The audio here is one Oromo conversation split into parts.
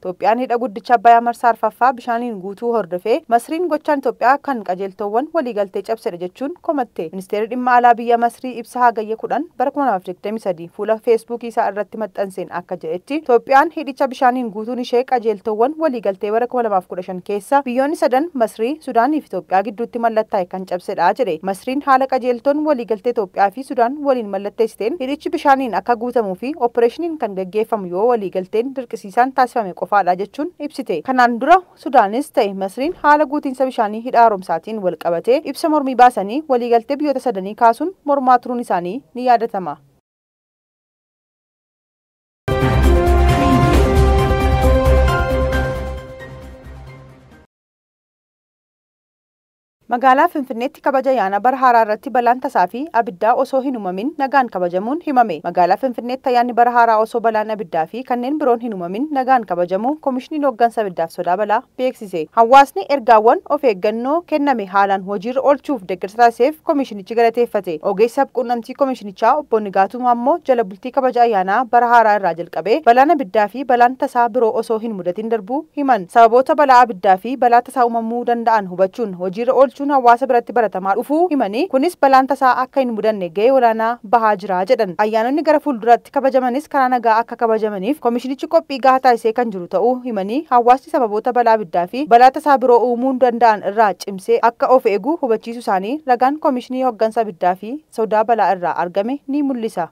Itoophiyaan Hidha Guddicha Abbayaa Marsaa Arfaffaa bishaaniin guutuu hordofee Masriin gochaan Itoophiyaa kan qajeeltoowwan waliigaltee cabsedha jechuun komatte. Ministeerri Dhimma Alaa biyya Masrii ibsa Hagayya 10, bara 2023 fuula Feesbuukii isaa irratti maxxanseen akka jedhetti, Itoophiyaan hidhicha bishaaniin guutuun ishee qajeeltoowwan waliigaltee bara 2015 keessa biyyoonni sadan Masrii, Sudaanii fi Itoophiyaa gidduutti mallattaa'e kan cabsedha jedhe. Masriin haala qajeeltoon waliigaltee Itoophiyaa fi. Sudaan waliin mallatteessiteen hidhichi bishaaniin akka guutamuu fi oppireeshiniin kan gaggeeffamu yoo waliigalteen dirqisiisaan taasifame qofaadha jechuun ibsite. Kanaan dura Sudaanis ta'e Masriin haala guutiinsa bishaanii hidha haaromsaatiin wal qabatee ibsa mormii baasanii waliigaltee biyyoota sadanii kaasuun mormaa turuun isaanii ni yaadatama. Magaalaa Finfinneetti kabaja yaana bara haaraa irratti balaan tasaa fi abiddaa osoo hin umamin nagaan kabajamuun himame. Magaalaa Finfinneetti ayyaanni bara haaraa osoo balaan abiddaa fi kanneen biroon hin umamin nagaan kabajamuu Komishiniin Hooggansa Abiddaaf Sodaa Balaa beeksise. Hawaasni ergaawwan of eeggannoo kenname haalaan hojiirra oolchuuf deeggarsa taasiseef komishinichi galateeffate. Ogeessi sabquunnamtii komishinichaa obbo Nigaatuu Maammoo jala Sirnichi kabaja ayyaanaa bara haaraa irraa jalqabee balaan abiddaa fi balaan tasaa biroo osoo hin mudatin darbuu himan. Sababoota balaa abiddaa fi balaa tasaa uumamuu danda'an hubachuun hojiirra oolchuun hawaasa biratti baratamaa dhufuu himanii, kunis balaan tasaa akka hin mudanne gahee olaanaa bahaa jira jedhan. Ayyaanonni gara fuulduraatti kabajamanis karaa nagaa akka kabajamaniif komishinichi qophii gahaa taasisee kan jiru ta'uu himanii, hawaasni sababoota balaa abiddaa fi balaa tasaa biroo uumuu danda'an irraa cimsee akka of eegu hubachiisuu isaanii ragaan Komishinii Hoggansa Abiddaa fi sodaa balaa irraa argame ni mul'isa.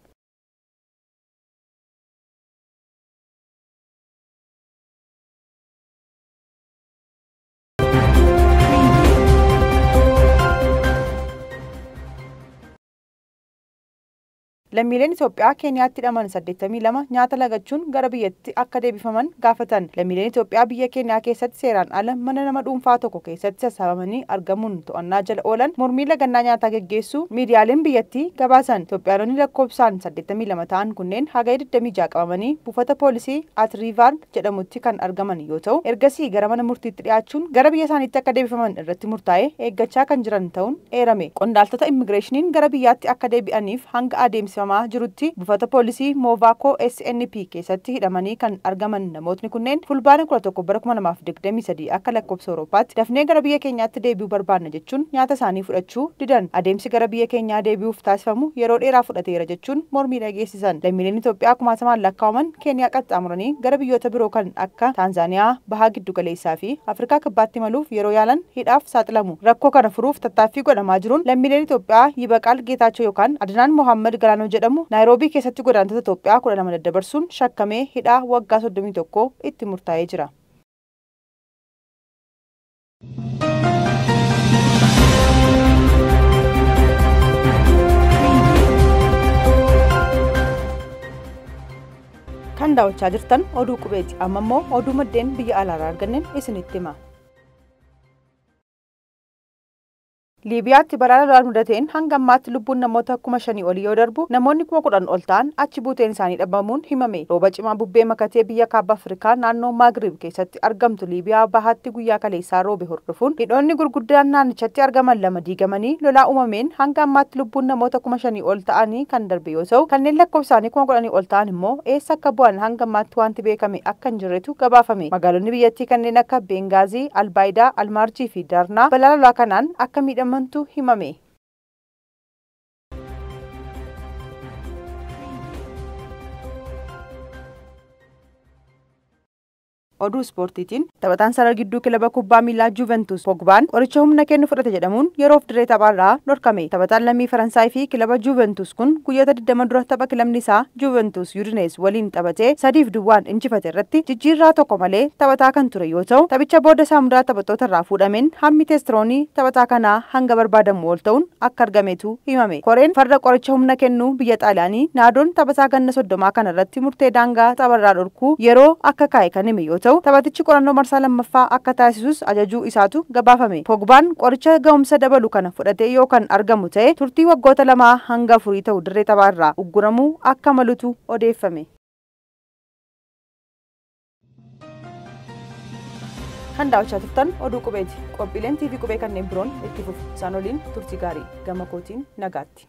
Lammiileen Itoophiyaa Keeniyaatti hidhaman 82 nyaata lagachuun gara biyya. tti akka deebifaman gaafatan. Lammiileen Itoophiyaa biyya Keeniyaa keessatti seeraan ala mana nama dhuunfaa tokko keessatti sassaabamanii argamuun to'annaa jala oolan mormii lagannaa nyaataa geggeessuu miidiyaaleen biyyattii gabaasan. Itoophiyaanonni lakkoofsaan 82 ta'an kunneen Hagaya 26 qabamanii buufata poolisii At Riivaar jedhamutti kan argaman yoo ta'u, ergasii gara mana murtiitti dhiyaachuun gara biyya isaaniitti akka deebifaman irratti murtaa'ee eeggachaa kan jiran ta'uun eerame. Qondaaltota immigireeshiniin gara biyyaatti akka deebi'aniif hanga adeemsifamaa jirutti, Buufata Poolisii Moovaakoo SNP keessatti hidhamanii kan argaman namootni kunneen Fulbaana 11 bara 2023 akka lakkoofsa Awurooppaatti dafnee gara biyya keenyaatti deebi'uu barbaadna jechuun nyaata isaanii fudhachuu didan adeemsi gara biyya keenyaa deebi'uuf taasifamu yeroo dheeraa fudhateera jechuun mormii dhageessisan. Lammiileen Itoophiyaa kumaatamaan lakkaa'aman Keeniyaa qaxxaamuranii gara biyyoota biroo kan akka Taanzaaniyaa, Baha Giddugaleessaa fi Afrikaa Kibbaatti imaluuf yeroo yaalan, hidhaaf saaxilamu. Rakkoo kana furuuf tattaaffii godhamaa jiruun lammiileen Itoophiyaa Yibaqaal Geetaachoo yookaan Adinaan Mohaammad Galaanoo jedhamu Naayiroobii keessatti godaantota Itoophiyaa 12 daddabarsuun shakkamee hidhaa waggaa 31 itti murtaa'ee jira. Kan daawwachaa jirtan oduu qubeeti. Amma immoo oduu maddeen biyya alaarraa arganneen isinitti hima. Liibiyaatti balaa lolaan mudateen hanga ammaatti lubbuun namoota kuma shanii olii yoo darbu, namoonni kuma kudhan ol ta'an achi buuteen isaanii dhabamuun himame. Rooba cimaa bubbee makatee biyya Kaaba Afrikaa naannoo Maagrib keessatti argamtu Liibiyaa bahaatti guyyaa kaleessaa roobe hordofuun hidhoonni gurguddaan naannichatti argaman lama diigamanii lolaa uumameen hanga ammaatti lubbuun namoota kuma shanii ol ta'anii kan darbe yoo ta'u, kanneen lakkoofsaanii kuma kudhanii ol ta'an immoo eessa akka bu'an hanga ammaatti waanti beekame akka hin jirretu gabaafame. Magaalonni biyyattii kanneen akka Beengaazii, Albaayidaa, Almaarjii fi Darnaa balaa lolaa kanaan akka miidhamantu himame. Oduu ispoortiitiin Taphataan sarara gidduu kilaba kubbaa miilaa Juventus Pogbaan qoricha humna kennu fudhate jedhamuun yeroof dirree taphaarraa dhorkame. Taphataan lammii Faransaay fi kilaba Juventus kun guyyoota 20 dura tapha kilabni isaa Juventus Udinese waliin taphatee 3 fi duwwaan injifate irratti jijjiirraa tokko malee taphataa kan ture yoo ta'u, taphicha booda saamudaa taphattootarraa fuudhameen hammi teestiroonii taphataa kanaa hanga barbaadamuu ol ta'uun akka argametu himame. Koreen farra qoricha humna kennuu biyya Xaaliyaanii Naadoon taphasaa ganna soddomaa kana irratti murtee daangaa tapharraa dhorkuu yeroo akka kaa'e kan hime yoo ta'u, taphatichi qorannoo marsaa lammaffaa akka taasisus ajajuu isaatu gabaafame. Pogbaan qoricha gahumsa dabalu kana fudhatee yoo kan argamu ta'e turtii waggoota lamaa hanga afurii ta'u dirree taphaa irraa ugguramuu akka malutu odeeffame. Kan daawwachaa turtan oduu qubeeti. Qophiileen TV qubee kanneen biroon itti fufu. Isaan waliin turtii gaarii gama kootiin nagaatti.